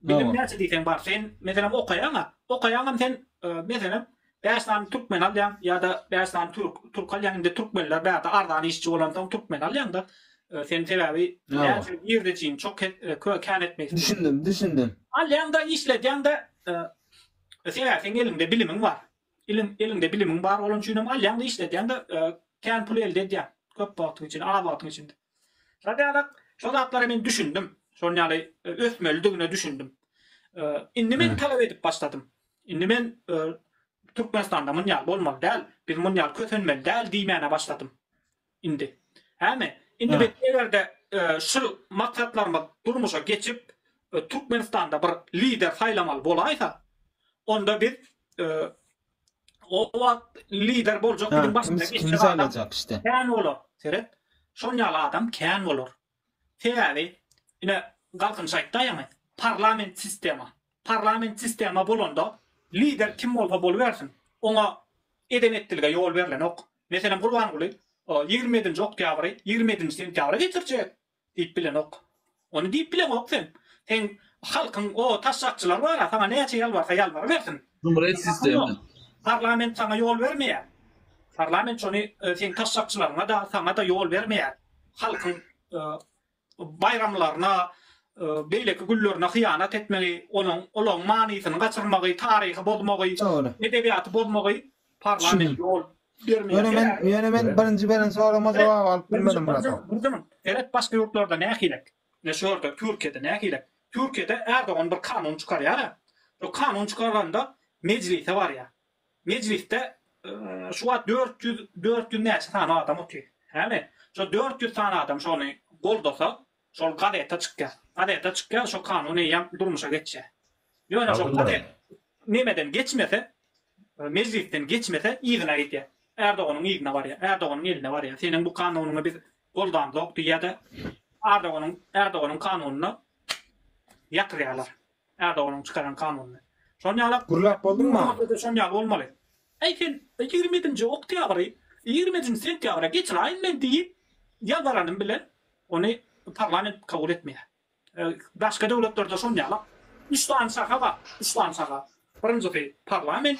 [SPEAKER 1] Bilim Dogry.
[SPEAKER 7] näçe
[SPEAKER 1] diýseň bar. Sen, meselem, okaýaň-a. Okaýaňam sen, e, meselem, bäş sany türkmen alýaň ýa-da bäş sany türk, türk alýaň. Indi türkmenler bärde arzan işçi bolansoň türkmen alýaň-da. E, sen sebäbi Dogry. näçe girdejiň, çok, e, kö, kän etmegin. Düşündim, düşündim.
[SPEAKER 7] Alýaň-da,
[SPEAKER 1] işledýäň-de, e, Sebäbi seň eliňde bilimiň bar. Iliň eliňde bilimiň bar bolan üçin hem alýaň-da işledýäň-de kän pul elde edýäň. Köp wagtyň içinde, az wagtyň içinde. Şol ýaly şol zatlara men düşündim. Şol ýaly ösmelidigine düşündim. Indi men talap edip başladym. Indi men Türkmenistanda muny ýaly bolmaly däl. Biz muny ýaly kösenmeli däl diýmäne başladym. Indi. Hämi? Indi biz eger-de şu maksatlarymyz durmuşa geçip, Türkmenistanda bir lider saýlamaly bolaýsa, onda biz o wagt lider boljak biziň başymyzda geçjek adam kän
[SPEAKER 7] bolar. Seret,
[SPEAKER 1] şol ýaly adam kän bolar. Sebäbi, ine, Galkynyş aýtdy aýaňy, parlament sistema. Parlament sistema bolanda, lider kim bolsa bolubersin, oňa eden-etdilige ýol berlenok. Meselem, Gurbanguly ýigrimi ýedinji oktýabry ýigrimi ýedinji sentýabra geçirjek diýip bilenok. Ony diýip bileňok sen. Seň halkyň o taşşakçylar bar-a, saňa näçe ýalbarsa ýalbarybersin. Cumhuriyet sistema.
[SPEAKER 2] Parlament saňa
[SPEAKER 1] ýol bermeýär. Parlament şony seň taşşakçylaryňa-da, saňa-da ýol bermeýär. halkyň baýramlaryna, beýleki günlerine hyýanat etmegi, onuň olaň manysyny gaçyrmagy, taryhy bozmagy, edebiýaty bozmagy parlament ýol bermeýär. Ýöne men, ýöne men birinji
[SPEAKER 7] beren soragma jogap alyp bilmedim Murat. Birden, seret başga ýurtlarda
[SPEAKER 1] nähilek? Ne şu ýerde Türkiýede nähilek? Türkiýede Erdogan bir kanun çykarýar-a, şu kanun çykaranda mejlise barýar. Mejlisde şu wagt dört ýüz, dört ýüz näçe sany adam otyr. Hany, şo dört ýüz sany adam şony goldasa, şol gazete çykýar. Gazete çykýar, şo kanun eýýäm durmuşa geçýär. Ýöne şo gazet nemeden geçmese, mejlisden geçmese, yzyna gidýär. Erdoganyň yzyna barýar, Erdoganyň eline barýar. Seniň bu kanunyňy biz goldamzok diýýär-de, Erdoganyň, Erdoganyň kanunyny ýatyrýarlar. Erdoganyň çykaran kanunyny. Şon ýala Gürläp bolduň ma?
[SPEAKER 7] Gürlemekde-de şon ýaly bolmaly.
[SPEAKER 1] Äý sen ýigrimedinji oktýabry ýigrimejinji sentýabra geçiräýin men diýip ýalbaranym bilen ony parlament kabul etmeýär. Başga döwletlerde şon ýala üç sany şaha bar, üç sany şaha. Birinjisi parlament,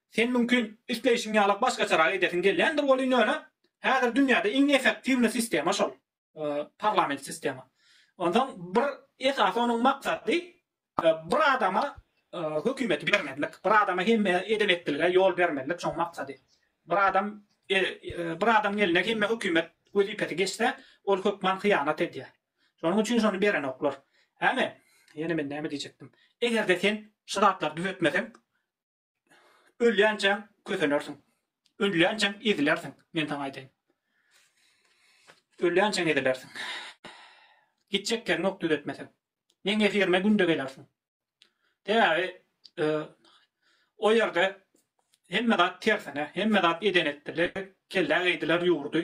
[SPEAKER 1] Sen mümkin isleýşiň ýalak başgaçarak edesiň gelýändir welin ýöne häzir dünýäde iň efektiwny sistema şol. Parlament sistema. Onsoň bir esasy onuň maksady bir adama hökümeti bermezlik. Bir adama hemme eden etdilige ýol bermezlik şoň maksady. Bir adam bir adamyň eline hemme hökümet wezipesi geçse ol hökman hyýanat edýär. Şonuň üçin şony berenoklar. Äme, ýene men näme diýjekdim. Egerde sen şu zatlary düzetmeseň Ölýänçäň kösenersiň. Ölýänçäň ezilersiň, men saňa aýdaýyn. Ölýänçäň ezilersiň. Gitjek ýeriňok düzetmeseň. Meň efirime günde gelersiň. Sebäbi e, o ýerde hemme zat tersine, hemme zat eden etdiler, kellä geýdiler ýurdy.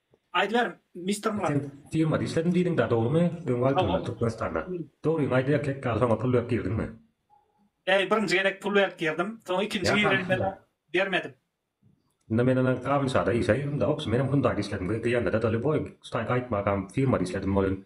[SPEAKER 1] Aýdyber Mister Murad. Firmada işledim diýdiňdä
[SPEAKER 3] dogrymy öň aýtyldy Türkmenistanda. Dogryňy aýt erkek ýaly soňa pul berip girdiňmi. Bäý
[SPEAKER 1] birinji gezek pul berip girdim soň ikinji girelmede bermedim. Ynha
[SPEAKER 3] men ana Gabynşada işe girdimde obşi menem hundayda işledim gyz diýende de doly boý stayka aýtmagam firmada işledim welin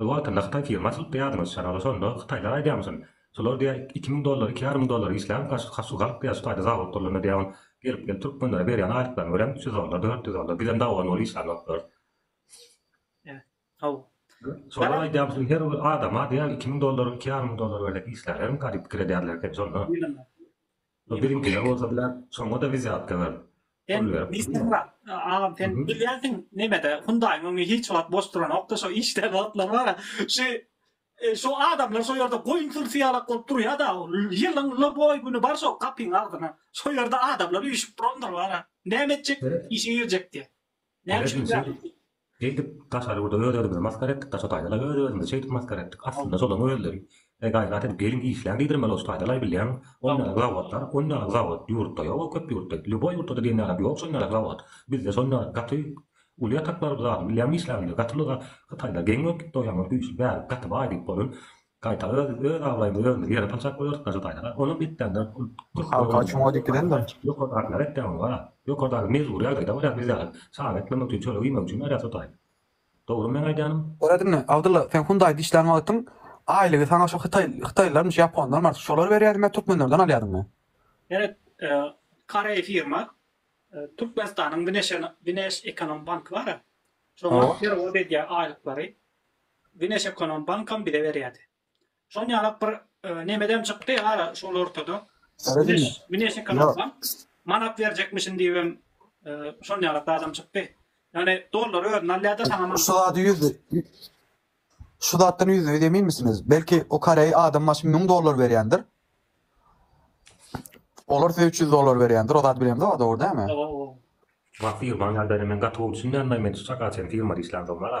[SPEAKER 3] Bir wagtynda hytaý firmasy tutdy ýadyňyz şalala şonda hytaýlar aýdýamyşyn şolar diýä iki müň dollar iki ýarym müň dollar işläň kaşka şu galp diýä şu taýda zawod gurlanda diýä on gelip gelip türkmenlere berýän aýlyklaryny görem üç ýüz dollar dört ýüz dollar bizem dawa nol işlänoklarys
[SPEAKER 1] şolar
[SPEAKER 3] aýdýamyşyn her bir adama diýä iki müň dollar iki ýarym müň dollar berlek işlänerin garyp pikir edýärler eken şonda. Bu biziňkiler bolsa biler, şoňa-da wizýatka berip, pul berip
[SPEAKER 1] durma. Agam, sen bilýänsiň neme-de, Hyundaýyň öňi hiç wagt boş duranokdy, şo işdäki wagtlary bar-a, şi, şo adamlar şo ýerde goýun sürüsi ýalak bolup durýa-da, ýylyň ýyly boýy güni bar şo gapyň agzyna, şo ýerde adamlar üýşüp durandyr bar-a, näme etjek, işe girjek diýýä. Näme üçin ýaly? Eýdip,
[SPEAKER 3] daşary ýurda öz-özümizi masgara etdik, daşa taýdalaý öz-özümizi şeýdip masgara etdik, aslynda şolaň özleri, Eý, gaýrat edip geliň, işläň diýdirmeli bolşy, taýdalaý bilýäňmi? Ol ýaly zawodlar, ol ýaly zawod ýurtda ýok-ow, köp ýurtda, lýuboý ýurtda-da diýen ýalam ýok şol ýaly zawod. Bizde şol ýaly gaty uly ýatak bar bu zadyň, bilýäňmi işlägini, gaty uly zat. Hytaýda geň bolup gitdi o ýaňy, güýçli bärik, gaty baý diýip bolan. Gaýta öz öz abraýymyzy özümiz ýere saljakka bolarys daşa taýlara olam gitdäňde Halka çuňa
[SPEAKER 6] dikilendir. Ýokardakylar etdäňiz
[SPEAKER 3] bar a. Ýokardaky mejbury ýagdaýda barýar biz ýaly çaga etmemek üçin çörek iýmek üçin barýas o taý. Dogrymy meň aýdýanym? Görediňmi Abdylla sen
[SPEAKER 6] hundaýda işlän wagtyň aýlygy saňa şo hytaý hytaýlylarmyş ýaponlarmy artyk şolar berýärdim ýa türkmenlerden alýadyňmy? Eret koreý
[SPEAKER 1] firma Türkmenistanyň wneş ekonom banky bara şoňa perewod edýär aýlyklary Güneş ekonom bankam bize berýärdi. Şon ýalak bir nemedem çykdy ara şol ortada. Güneş ekonom bank manat berjekmişin diýibem şon ýalak zadam çykdy. Ýagny dollary özüne alýarda saňa manat. Şu zady ýüzde
[SPEAKER 6] Şu zatdan ýüzde ýüz eminmisiňiz? Belki o koreý adam başy müň dollar berýändir. Olar size üç ýüz dollar berýändir. O zat bilemde bar dogry dämi? Oba oba. Wah
[SPEAKER 3] firmaň ýagdaýyna men gaty gowy düşünýän daýy men çaga çen firmada işlän soňlar-a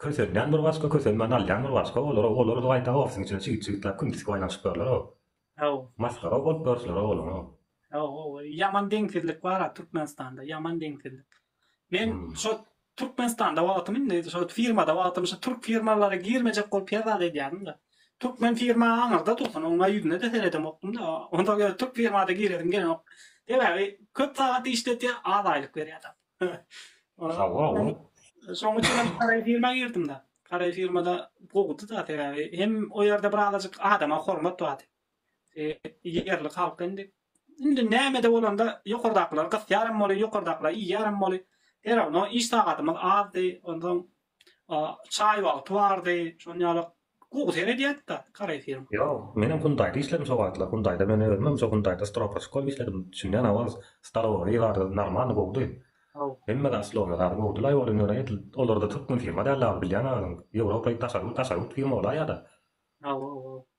[SPEAKER 3] Kösenýän bir başga, kösenmän alýan bir başga, olar, olar gaýta ofisiň içine çigit-çigitläp küm tisip aýlanyşypdyrlar-ow. Haw. Masgara-ow bolup görüpsiler-ow olaňow. Haw, haw, ýaman
[SPEAKER 1] deňsizlik bar-a Türkmenistanda, ýaman deňsizlik. Men şo Türkmenistanda wagtym indi, şo firmada wagtym şo türk firmalara girmejek bolup hezzat edýärin-de. Türkmen firma aňyrda dursun, oňa ýüzüne-de seredemokdym-da. Onsoň ýöne türk firmada giresim gelenok. Sebäbi köp sagat işletýär, az aýlyk berýär-de. Hawa, ol.
[SPEAKER 3] Şoň üçin hem
[SPEAKER 1] garaý firma girdim-de. Garaý firmada gowudy-da, sebäbi hem o ýerde bir azajyk adama hormat bardy. Ýerli halk indi, indi näme-de bolanda ýokardakylar gysýar hem boly, ýokardakylar iýýär hem boly. Serawno iş sagadymyz azdy, onsoň Çaý wagty bardy. Şonuň ýaly gowy seredýädi-de kareýfilm. Ýok, menem Hundaýda
[SPEAKER 3] işledim şo wagtlar. Hundaýda men özümem şo Hundaýda stropaçyk bolup işledim. Düşünýän awaz, stalowoý zady normalny gowudy. Hemme zat slowly zady gowudy-laý ol indi ýöne edil olarda türkmen firma däldi agy bilýäň-a özüň. Ýewropa daşary ýurt firma bolaýýa-da. Hawa-hawa.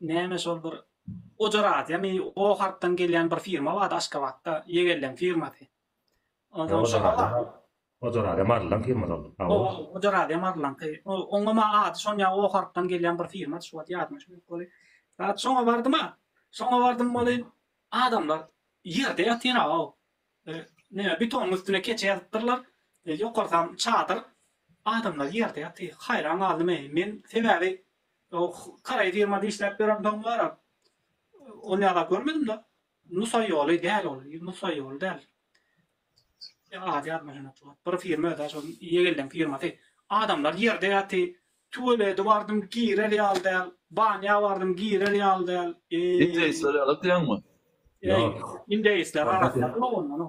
[SPEAKER 1] Näme şol bir Ojaradiýamy, o harpdan gelýän bir firma bardy Aşgabatda, Ýegelleň firmasy. Onsoň şo Ojaradiýa
[SPEAKER 3] Marylyň firmasy ol. Hawa, Ojaradiýa
[SPEAKER 1] Marylyňky. Oňa maň ady şon ýa o harpdan gelýän bir firmady, şu wagt ýadyma düşmedi weli. Zat şoňa bardym-a. Şoňa bardym weli, adamlar ýerde ýatyr-aw. Näme betonyň üstüne keçe ýazypdyrlar, ýokarsam çadyr, adamlar ýerde ýatyr. Haýran galdym-eý men, sebäbi Oh, karaý firmada işläp ýören doňňara ol ýaly zat görmedim-dä. Nusa ýoly däl ol, nusa ýoly däl. Ady ýadyma düşenok. Bir firma özi-ä şol Ýegeldeň firmasy. Adamlar ýerde ýaty. Tualeti bardym, girer ýaly däl. Banýa bardym, girer ýaly däl. Eý. Indeýsler ýaly
[SPEAKER 2] diýýäňmi? Ýok.
[SPEAKER 1] Indeýsler arasynda. Ýok ondan.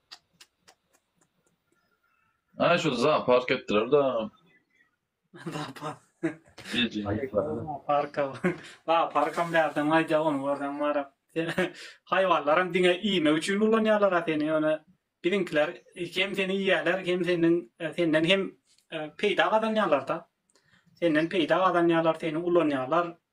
[SPEAKER 2] Ay şu zoopark ettiler da.
[SPEAKER 1] Zoopark.
[SPEAKER 2] Parka.
[SPEAKER 1] La parkam nereden aýdýa onu görseň mara. Haýwanlaram diňe iýmek üçin ulanýarlar seni ýöne biziňkiler hem seni iýýärler hem senden senden hem e, peýda gazanýarlar da. Senden peýda gazanýarlar, seni ulanýarlar.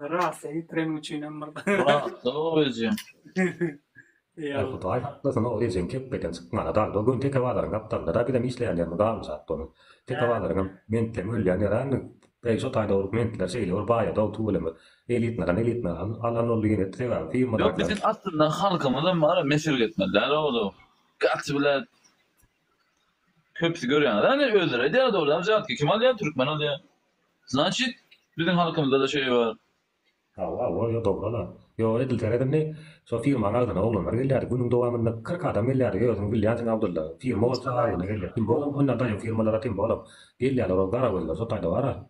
[SPEAKER 1] Rasa ýitiren üçinem
[SPEAKER 2] bir.
[SPEAKER 3] Rahatlyk o ejeň. Eý Hudaý haklasyn o ejeň kepbeden çykmana dagda gön teke bazaryň gapdalynda-da bizem işleýänlerimiz galmyşat doly. Teke bazaryňam mentleň ölýän ýerämi? Beý şo taýda uruk mentler şeýle bir baýadao tüweleme. Elitnadan elitna alan boldy ýene sebäbi firmadaklar. Ýok biziň aslynda
[SPEAKER 2] halkymyzam ara mesirgetmeli däl oglum. Gaty bile. Köpüsi görýäňiz hany özleri aýdýardy ol aljatki kim alýar türkmen alýar znaçit biziň halkymyzdada şeý bar. Hawa bolýa
[SPEAKER 3] dogryla. Ýok edil seredimmi şo firmany agzyna oglanlar gelýärdi günüň dowamynda kyrk adam gelýärdi özüň bilýänsiň Abdylla firma bolsa agzyna gelýär kim bolam onda daýow firmalara kim bolam gelýärler ol gara gözler şo taýda bara.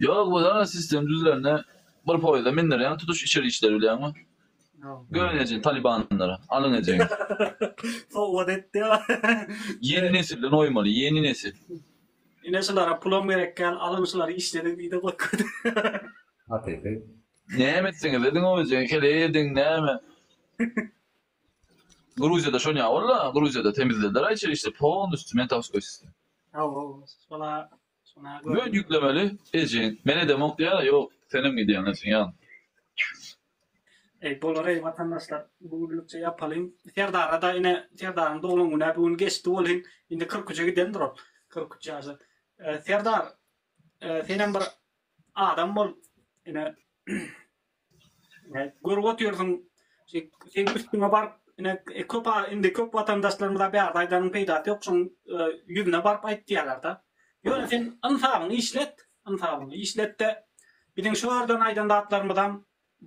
[SPEAKER 3] Ýok bu zat
[SPEAKER 2] sistem düzülende bir poýda mindirýäň tutuş içeri işleri bilýäňmi göni ejen talibanlary alyň ejeňi Sowgat etdi ýa. Ýeni
[SPEAKER 1] nesilden oýmaly ýeni nesil. Ine
[SPEAKER 2] şulara pulam gerek däl alyň şulary işlediň diýdi
[SPEAKER 1] goý
[SPEAKER 2] köýdi. Hakyky. Näme etseňiz
[SPEAKER 1] ediň
[SPEAKER 3] o
[SPEAKER 2] ejegi heleý ediň näme. Gruziýada şon ýa bolda Gruziýada temizlediler a içeri işleri polnustyu mentowskoý sistem. Hawa şola
[SPEAKER 1] Böt ýüklemeli
[SPEAKER 2] eje men edemok diýýär ýok senem gidýäň etsin ýaly. Eý
[SPEAKER 1] bolar eý watandaşlar bu günlükçe ýapalyň Serdarada ine Serdaryň doglan günä bu gün geçdi welin indi kyrk üçe gidendir ol kyrk üç ýaşa Serdar senem bir adam bol ine. Ine, görüp otyrsyň, şi- seň üstüňe baryp, ine, e, köp a- indi köp watandaşlarymyza bärde aýdanyň peýdasy ýok, şoň e, ýüzüne baryp aýtýarlar-da. Ýöne sen ynsabyňy işlet, ynsabyňy işlet-de, biziň şu ýerden aýdan zatlarymyzam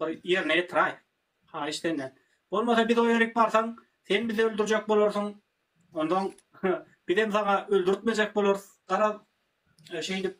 [SPEAKER 1] bir ýerine ýetiraý, haýyş senden. Bolmasa biz o ýerik barsaň, sen bizi öldürjek bolarsyň, onsoň bizem saňa öldürtmejek bolarys, garaz, e, şeýdip,